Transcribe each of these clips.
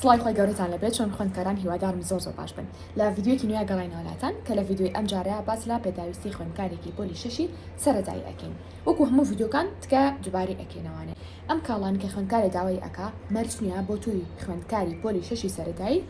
سڵای خۆی گەورەتان لەبێت چۆن خوێندکاران هیوادارم زۆر زۆر باش بن لە ڤیدیۆیەکی نوێیا گەڕاینەوە لاتان کە لە ڤیدیۆی ئەم جارەیا باس لە پێداویستی خوێندکارێکی پۆلی شەشی سەرەتایی ئەکەین وەکو هەموو ڤیدیۆکان تکایە دوبارەی ئەکەینەوانێ ئەم کاڵانە کە خوێندکارێ داوای ئەکا مەرج نیە بۆ توی خوێندکاری پۆلی شەشی سەرەتایی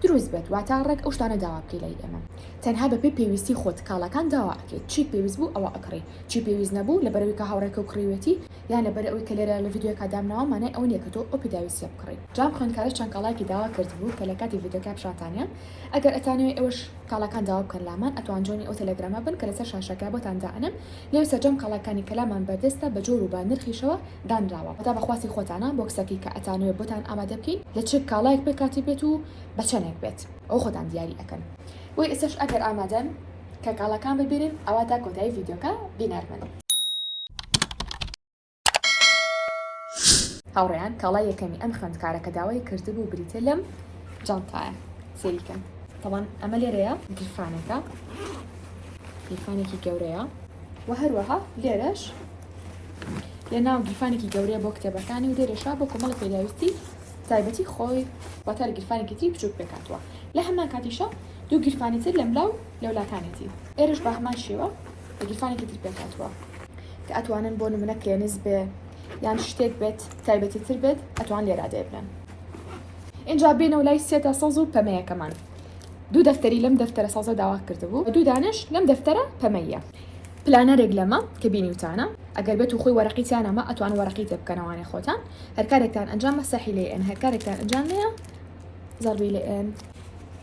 دروست بێت واتا ڕێک ئەو شتانە داوا بکەی لای ئێمە تەنها بە پێی پێویستی خۆت کاڵاکان داوا ئەکەی چیت پێویست بوو ئەوە ئەکڕی چی پێویست نەبوو لەبەرەوەی کە هاوڕێکەو کڕیوێتی یان لەبەر ئەوەی کە لێرە لە ڤیدیۆیەکا دامناوە مانای ئەوە نیە کە تۆ ئەو پێداویستیە بکڕی. جا ئەم خوێندکارەش چەند کاڵایەکی داوا کردبوو کە لە کاتی ڤیدیۆکە پیشانتانیە ئەگەر ئەتانەوێ ئێوەش کاڵاکان داوا بکەن لامان ئەتوان جۆینی ئەو تێلێگرامە بن کە لەسەر شاشەکە بۆتان دائەنەم لێو سەرجەم کاڵاکانی کە لامان بەردەستە بە جۆر و بە نرخیشەوە دانراوە واتا بە خواستی خۆتانە بۆکسەکی کە ئەتانەوێ بۆتان ئامادە بکەین لە چ کاڵایەک پێکهاتبێت و بە چەنێک بێت ئەوە خۆتان دیاری ئەکەن بۆی ئێستاش ئەگەر ئامادەن کە کاڵاکان ببینن ئەوا تا کۆتایی ڤیدیۆکە بینەر بن. هاوڕێیان کاڵای یەکەمی ئەم خوێندکارە کە داوای کردبوو بریتیە لەم جانتایە سەیری کەن تاوان ئەمە لێرەیە گیرفانەکە گیرفانێکی گەورەیە و هەروەها لێرەش لە ناو گیرفانێکی گەورەیە بۆ کتێبەکانی و لێرەشا بۆ کۆمەڵە پێداویستی تایبەتی خۆی واتە گیرفانێکی تری بچوک پێکاتوە لە هەمان کاتیشە دوو گیرفانی تر لەملا و لەولاکانێتی. ئێرەش بە هەمان شێوە بە گیرفانێکی تر پێکهاتووە. کە ئەتوانن بۆ نمونە کلێنس بێ یان شتێک بێت تایبەتی تر بێت ئەتوان لێرا دەیبنن. ئینجا بێنەوە لای سێتە سەوز و پەمەیەکەمان. دوو دەفتەری لەم دەفتەرە سەوزە داوا کردبوو و دوو دانەش لەم دەفتەرە پەمەییە. پلانەرێک لەمە کە بینیوتانە ئەگەر بێت و خۆی وەرەقی تیا نەما ئەتوان وەرەقی تێ بکەنە وانەی خۆتان. هەر کارێکتان ئەنجام مەسەحی لێ ئێن هەر کارێکتان ئەنجام نێە زەڕبی لێ ئێن.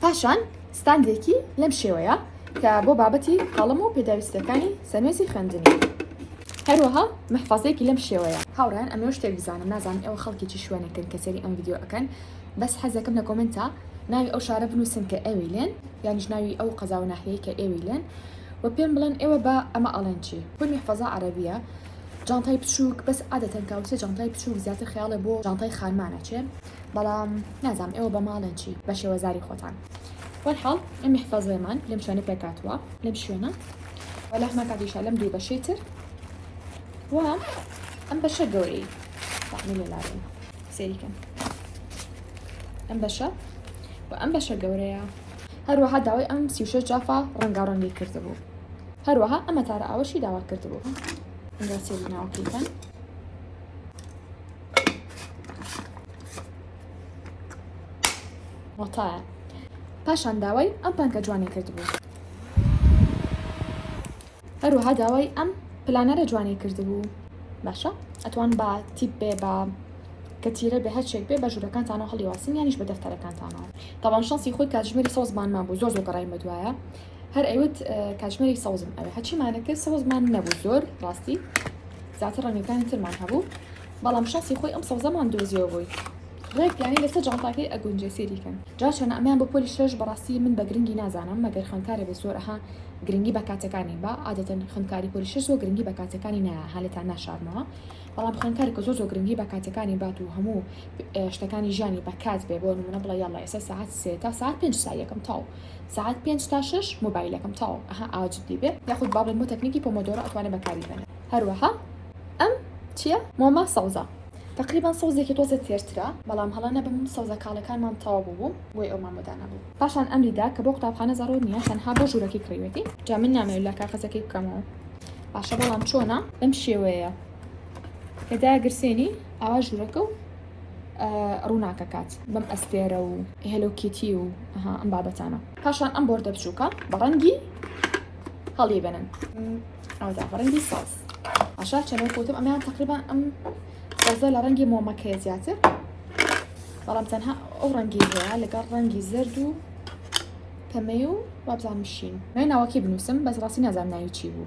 پاشان ستاندێکی لەم شێوەیە کە بۆ بابەتی قەڵەم و پێداویستیەکانی سەنوێزی خوێندنی هەروەها محفەزەیەکی لەم شێوەیە. هاوڕێیان ئەمەوێ شتێک بزانم نازانم ئێوە خەڵکی چ شوێنێکن کە سەیری ئەم ڤیدیۆ ئەکەن بەس حەزەکەم لە کۆمێنتا ناوی ئەو شارە بنووسن کە ئێوەی لێن یانیش ناوی ئەو قەزا و ناحیەی کە ئێوەی لێن و پێم بڵێن ئێوە بە ئەمە ئەڵێن چی؟ خۆی محفەزە عەرەبیە جانتای بچووک بەس عادەتەن کاوسێ جانتای بچووک زیاتر خەیاڵێ بۆ جانتای خانمان ئەچێ بەڵام نازام ئێوە بە ماڵێن چی بە شێوەزاری خۆتان وەلحاڵ ئەم محفەزەیەمان لەم شوێنە پێکاتوە لەم شوێنە وەلەحمە کاتیشە لەم دوو بەشەی تر و ئەم بەشە گەورەی تاقمی لێلاێن سێریکەم ئەم بەشە و ئەم بەشە گەورەیە هەروەها داوای ئەم سیوشە جافا ڕەنگاڕەنگی کردبوو هەروەها ئەمە تارە ئاوەشی داوا کردبوو ئەنگاسێری ناوەکەیتان وەتایە پاشان داوای ئەم پانکە جوانی کردبوو هەروەها داوای ئەم پلانەرە جوانی کردبوو باشە ئەتوان بە تیپ بێ بە کە تیرە بە هەرچێک بێ بە ژوورەکانتانەوە هەڵیواسین یانیش بە دەفتەرەکانتانەوە تاوان شانسی خۆی کاتژمێری سۆزمانمان بوو زۆر زۆر گەڕای مەدوایە هەر ئەیوت کاتژمێری سەوزم ئەوێ هەچیمانە کرد سەوزمان نەبوو زۆر ڕاستی زیاتر ڕەنگەکانی ترمان هەبوو بەڵام شانسی خۆی ئەم سەوزەمان دۆزیەوە بووی ڕێک یانی لەسە جانتاکەی ئەگونجێ سێریکەن جا چۆنە ئەمیان بۆ پۆلی شەش بەڕاستی من بە گرنگی نازانم مەگەر خوێندکارێ بێ زۆر ئەها گرنگی بە کاتەکانی با عادەتەن خوێندکاری پۆلی شەش زۆر گرنگی بە کاتەکانی نایە هەلێتان ناشارمەوە بەڵام خوێندکاری کە زۆر زۆر گرنگی بە کاتەکانی بات و هەموو شتەکانی ژیانی بە کات بێ بۆ نمونە بڵێ یاڵا ئێستا ساعت سێ تا ساعت پێنج سا یەکەم تاو سەعات پێنج تا شەش مۆبایلەکەم تەواو ئەها ئاوا جدی بێ یاخود با بڵێن بۆ تەکنیکی پۆمۆدۆرۆ ئەتوانێ بەکاری بێنێ هەروەها ئەم چیە مۆمە سەوزە تەقریبەن سەوزێکی تۆزێ تێرترە بەڵام هەڵە نەبم سەوزە کاڵەکانمان تەواو بوبوو بۆی ئەو مامۆ دانەبوو پاشان ئەمری دا کە بۆ قوتابخانە زەڕوور نیە تەنها بۆ ژورەکەی کڕیوێتی جا من نامەوێ لا کاخەزەکەی بکەمەوە باشە بەڵام چۆنە بەم شێوەیە کە داگرسێنی ئاوا ژورەکە و ڕووناکەکات بەم ئەستێرە و هێلۆ کیتی و ئەم بابەتانە پاشان ئەم بۆردە بچووکە بە ڕەنگی هەڵی بێنن ئەودا بە ڕەنگی ساز ئاشا چەنە کوتم ئەمیان تقریبا ئەم سازە لە ڕەنگی مۆمەکەی زیاتر بەڵام تەنها ئەو ڕەنگی هەیە لەگەڵ ڕەنگی زرد و پەمەی و وابزانمشین نای ناوەکی بنووسم بەس ڕاستی نازان ناوی چی بوو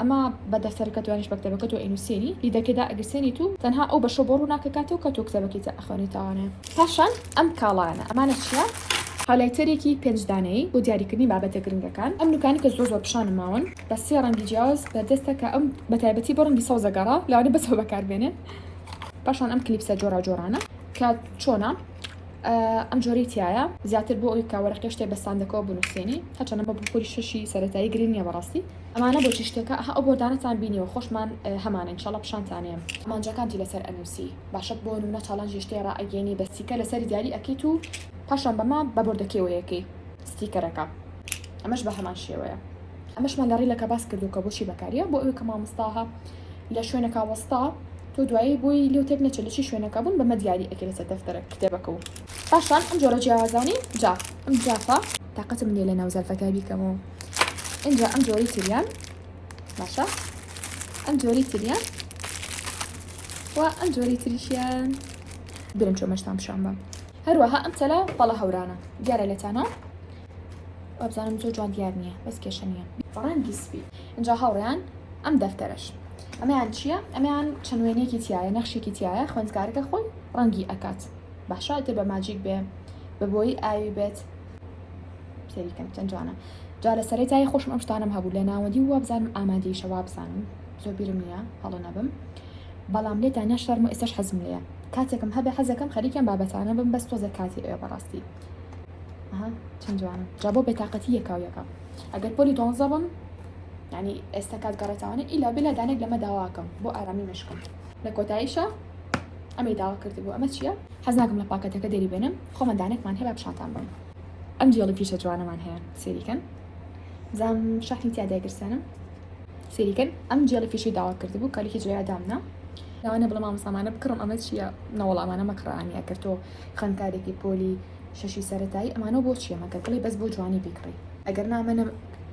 ئەما بە دەفتەرەکە تو یانیش بە کتێبەکە تۆ ئەینوسێنی لیدەکێدا ئەگرسێنیت و تەنها ئەو بەشە بۆ ڕووناکەکاتەوە کە تۆ کتێبەکەی تیا ئەخوێنیتەوانێ پاشان ئەم کاڵایانە ئەمانە چیە؟ هایلایتەرێکی پێنج دانەیی بۆ دیاریکردنی بابەتە گرنگەکان ئەم نوکانەی کە زۆر زۆر پیشانم ماون بە سێ ڕەنگی جیاواز بەردەستە کە ئەم بە تایبەتی بۆ ڕەنگی سەوزە گەڕا لەوانە بەسەوە بەکاربێنێ پاشان ئەم کلیپسە جۆراوجۆرانە کە چۆنە ئەم جۆرەی تیایە زیاتر بۆ ئەوی بکە وەرەقی شتێ بە ستاندەکەوە بنووسێنی هەرچەنە بە بخوری شەشی سەرەتایی گرنگ نیە بەڕاستی. ئەمانە بۆچی شتێکە ئەها ئەو بۆردانەتان بینیوە خۆشمان هەمانە ان شاءاللە پیشانتانێم. ئامانجەکانتی لەسەر ئەنوسی باشە بۆ نمونە چاڵێنجی شتێ ڕائەگەینی بە ستیکەر لەسەری دیاری ئەکەیت و پاشان بەمە بە بۆردەکەی وەیەکەی ستیکەرەکە ئەمەش بەهەمان شێوەیە. ئەمەشمان لە ڕیلەکە باس کردوە کە بۆچی بەکاریە بۆ ئەوی کە مامۆستاها لە شوێنەکا وەستا تۆ دوایی بۆی لێو تێک نەچێت لە چی شوێنەکە بوون بەمە دیاری ئەکەی لەسەر دەفتەرە کتێبەکە و پاشان ئەم جۆرە جیاوازانەی جا ئەم جافە تاقەتم نیە لەناو زەرفەکە بیکەمەوە ئینجا ئەم جۆری تریان باشە ئەم جۆری تریان و ئەم جۆری تریشیان برم چۆمەشتان پیشان بەم هەروەها ئەم تەلە پەڵە هەورانە دیارە لەتانۆ وابزانم زۆر جوان دیار نییە بەس کێشە نییە ڕەنگی سپی ئەجا هاوڕیان ئەم دەفتەرش ئەمەیان چییە ئەمیان چەند وێنێکی تایە نەخشێکی تایە خوێندکارەکە خۆی ڕەنگی ئەکات باشە تێ بە ماجیک بێ بە بۆی ئاوی بێت سەریکەم چەند جوانە جا لە سەرەی تای خۆشم ئەم شتانم هەبوو لە ناوەندی و وابزانم ئامادەیشە وابزانم زۆر بیرم نییە هەڵە نەبم بەڵام لێ تا ناشتارم و ئێستش حەزم لەیە کاتێکم هەبێ حەزەکەم خەریکم بابەتانە بم بەس تۆزێک کاتی ئەوێ بەڕاستی ئەها چەند جوانە جا بۆ بێتاقەتی یەکاو یەکە ئەگەر پۆلی دوانزە بم ینی ئێستا کات گەڕێتوانە ئیلا بلا دانێک لەمە داواکەم بۆ ئارامی مشکم لە کۆتاییشە ئەمەی داوا کرد بوو ئەمە چییە حەزناکەم لە پاکەتەکە دەری بێنم خۆمان دانێکمان هەیە پیشانتان بم ئەم جیێڵی پیشە جوانەمان هەیە سێریکەن زام شەحنی تیا دەگرسێنم سێریکەن ئەم جیێڵی فیشی داوا کرد بوو کالیکی جوێ دامنا لەوانە بڵە مامەسامانە بکڕم ئەمە چییە نەوەڵامانە مەکڕانی ئەکرد تۆ خوێندکارێکی پۆلی شەشی سەرەتایی ئەمانەو بۆ چیە مەگەر بڵێی بەس بۆ جوانی بیکڕی. ئەگەر نا ئەمە نە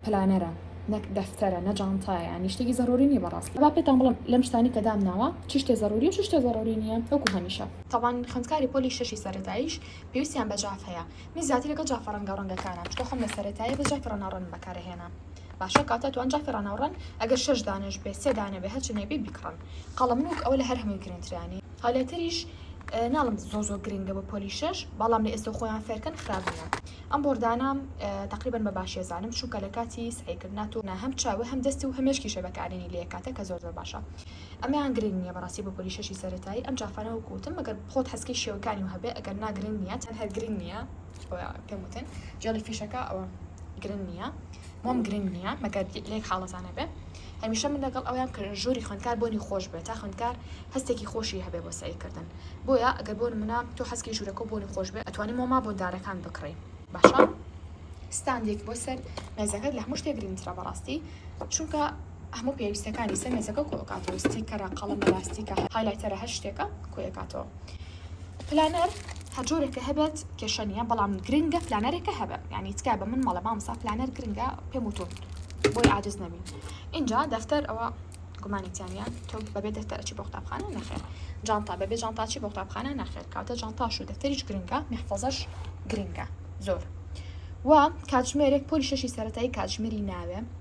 پلانەرە نە دەفتەرە نە جانتایە یانی شتێکی زەروری نیە بەڕاستی با پێتان بڵێم لەم شتانەی کە دام ناوە چ شتێ زەروری و چ شتێ زەروری نیە وەکو هەمیشە. تابان خوێندکاری پۆلی شەشی سەرەتاییش پێویستیان بە جاف هەیە من زیاتر لەگەڵ جافە ڕەنگاو ڕەنگەکانە چونکە خۆم لە سەرەتاییە بەس جافی ڕەناو ڕەنم بەکار ئەهێنام باشە کاتە توان جافی ڕەناو ڕەن ئەگەر شەش دانەش بێ سێ دانە بێ هەرچنێ بی بیکڕن قەڵەم نوک ئەوە لە هەر هەمووی گرنترە یانی هالیتریش ناڵم زۆر زۆر گرنگە بۆ پۆلی شەش بەڵام لە ئێستا خۆیان فێرکەن خراپ نییە ئەم بۆردانە تقریبن بە باشێزانم چونکە لە کاتی سعیکردنا تۆ نە هەم چاوە هەم دەستی و هەمێشکیشە بەکارێنی لە کاتە کە زۆر زۆر باشە ئەمیان گرنگ نییە بەڕاستی بۆ پۆلی شەشی سەرەتایی ئەم جافانە و کوتم مەگەر خۆت هەستکەی شێوەکانی و هەبێ ئەگەر ناگرنگ نییە چەند هەر گرنگ نییە پێم وتن جێڵی فیشەکە ئەوە گرنگ نییە مۆم گرنگ نییە مەگەر لێک حاڵەتانە بێ هەمیشە من لەگەڵ ئەوەیام کە ژووری خوێندکار بۆنی خۆش بێت تا خوێندکار هەستێکی خۆشی هەبێت بۆ سەعی کردن بۆیە گەر بۆ نمونە تۆ حەزکەی ژوورەکەو بۆنی خۆش بێت ئەتوانی مۆما بۆ دارەکان بکڕی باشە ستاندێک بۆ سەر مێزەکەت لە هەموو شتێک گرنگترە بەڕاستی چونکە هەموو پێویستەکانی سەر مێزەکە کۆکاتەوە ستیکەرە قەڵەمە لاستیکە هایلایتەرە هەر شتێکە کۆیەکاتەوە پلانەر هەرجۆرێکە هەبێت کێشە نیە بەڵام گرنگە پلانەرێکە هەبێت یعنی تکا بە من مەڵە مامسا پلانەر گرنگە پێم وتون بۆی عادز نەبی اینجا دەفتەر ئەوە گومانی تیانە تۆ بەبێ دەفتەرچی بۆ قوتابخانە نەخێر جانتا بەبێ جانتاچی بۆ قوتابخانە نەخێر کاتە جانتاش و دەفتەریش گرنگە محفەزەش گرنگە زۆر و کاتژمێرێک پۆلی شەشی سەتایی کاتژمێری ناوێ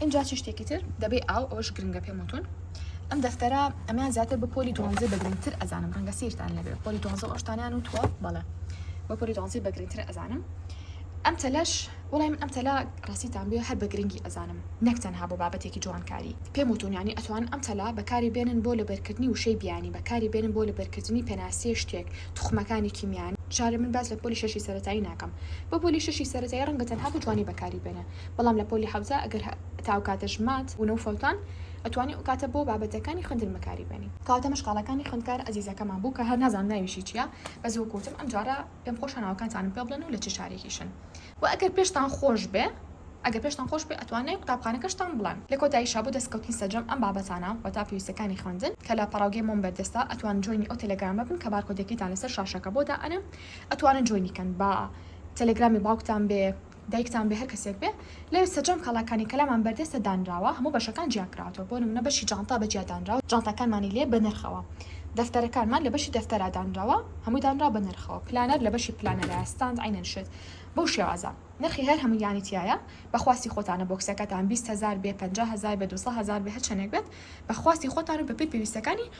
ئینجا چ شتێکی تر دەبێ ئاو ئەوش گرنگە پێم وتون ئەم دەفتەرە ئەمیان زیاتر بە پۆلی دوانزە بەگرنگتر ئەزانم ڕەنگە سیرتان لەبێ پۆلی دوانزە ئەوشتانیان و تۆ بەڵێ بە پۆلی دوانزی بەگرنگتر ئەزانم ئەم تەلەش وڵای من ئەم تەلا ڕاستیتان بێ هەر بە گرنگی ئەزانم نەک تەنها بۆ بابەتێکی جوانکاری پێم وتونیانی ئەتوان ئەم تەلا بەکاری بێنن بۆ لەبەرکردنی وشەی بیانی بەکاری بێنن بۆ لەبەرکردنی پێناسیە شتێک توخمەکانی کیمیانی جارێ من باس لە پۆلی شەشی سەرەتایی ناکەم بۆ پۆلی شەشی سەرەتایی ڕەنگە تەنها بۆ جوانی بەکاری بێنن بەڵام لە پۆلی حەوزە ئەگەر تا ئەو کاتەش مات بوونە و فەوتان ئەتوانی ئەو کاتە بۆ بابەتەکانی خوێندن بەکاری بێنی. کەواتە ئەمەش کاڵاکانی خوێندکار ئەزیزەکەمان بوو کە هەر نازانم ناویشی چیە بەس وەکو وتم ئەم جارە پێم خۆشە ناوەکانتانم پێ بڵێن و لە چ شارێکیشن وە ئەگەر پێشتان خۆش بێ ئەگەر پێشتان خۆش بێ ئەتوان ناوی قوتابخانەکەشتان بڵێن. لە کۆتاییشا بۆ دەستکەوتنی سەرجەم ئەم بابەتانە وەتا پێویستیەکانی خوێندن کە لە پەڕاوگەی مۆم بەردەستە ئەتوان جۆینی ئەو تێلێگرامە بن کە بارکۆدەکەیتان لەسەر شاشەکە بۆ دائەنێم ئەتوانن جۆینی کەن با تێلێگرامی باوکتان بێ دایکتان بێ هەر کەسێک بێ. لەوێ سەرجەم کاڵاکانی کەلامان بەردەستە دانراوە هەموو بەشەکان جیا کراوەتەوە بۆ نمونە بەشی جانتا بەجیا دانراوە جانتاکانمانی لێ بەنرخەوە دەفتەرەکانمان لە بەشی دەفتەرا دانراوە هەمووی دانراوە بە نرخەوە پلانەر لە بەشی پلانەرا ستاند عەینەن شت بەو شێوازە نرخی هەر هەموویانی تیایە بە خواستی خۆتانە بۆکسەکەتان بیست هەزار بێ پەنجا هەزار بێ دوو سە هەزار بێ هەر چەنێک بێت بە خواستی خۆتان و بە پێی پێویستەکانی